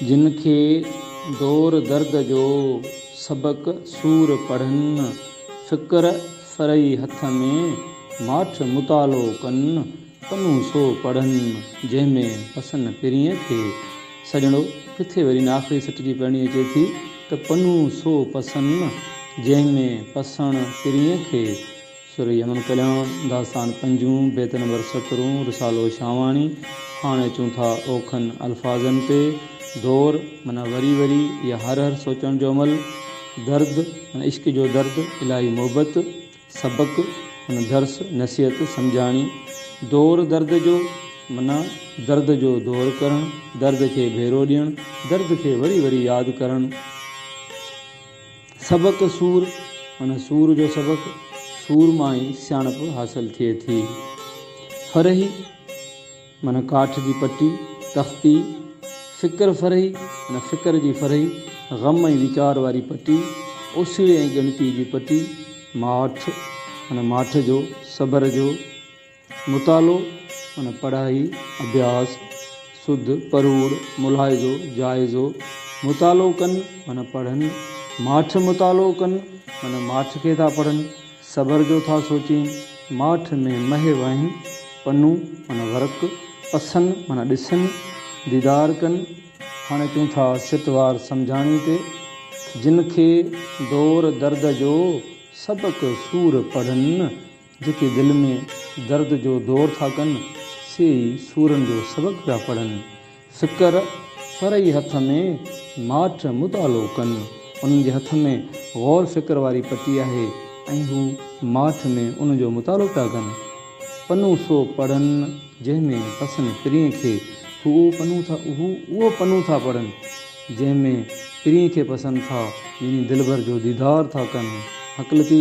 جن کي دور درد جو سبق سور پڙهن، فڪر فرئي هٿ ۾ ماٺ مطالعو ڪن، پنو سو پڙهن، جنهن ۾ پسن پرينء کي سڄڻو، ڪٿي وري ان آخري سٽ جي پڙهڻي اچي ٿي ته پنو سو پسن، جنهن ۾ پسڻ پرينء کي. سر يمن ڪلياڻ داستان پنجون، بيت نمبر سترهون، رسالو شاهواڻي، هاڻ اچون ٿا اوکن الفاظن تي، دور معنيٰ وري وري يا هر هر سوچڻ جو عمل، درد معنيٰ عشق جو درد، الاهي محبت، سبق معنيٰ درس، نصيحت، سمجهاڻي، دور درد جو معنيٰ درد جو دور ڪرڻ، درد کي ڀيرو ڏيڻ، درد کي وري وري ياد ڪرڻ. سبق سور، معنيٰ سور جو سبق، سور مان ئي سياڻپ حاصل ٿئي ٿي. فرهي، معنيٰ ڪاٺ جي پٽي، تختي. فڪر فرهي، معنيٰ فڪر جي فرهي، غم ۽ ويچار واري پٽي، اوسيڙي ۽ ڳڻتي جي پٽي. ماٺ، معنيٰ ماٺ جو، صبر جو. مطالعو معنيٰ پڙهائي، اڀياس، سڌ، پروڙ، ملاحظو، جائزو، مطالعو ڪن معنيٰ پڙهن، ماٺ، مطالعو ڪن معنيٰ ماٺ کي ٿا پڙهن، صبر جو ٿا سوچين، ماٺ ۾ مهي وهين، پنو معنيٰ ورق، پسن معنيٰ ڏسن، ديدار ڪن. هاڻي اچون ٿا سٽ وار سمجهاڻي تي. جن کي دور درد جو سبق سور پڙهن، جيڪي دل ۾ درد جو دور ٿا ڪن، سي ئي سورن جو سبق پيا پڙهن. فڪر فرعي هٿ ۾ ماٺ مطالعو ڪن. انهن جي هٿ ۾ غور فڪر واري پٽي آهي ۽ هو ماٺ ۾ ان جو مطالعو پيا ڪن. پنو سو پڙهن جنهن ۾ پسن پرينء کي، هو اهو پنو ٿا پڙهن جنهن ۾ پرينء کي پسن ٿا، يعني دلبر جو ديدار ٿا ڪن. هڪلتي.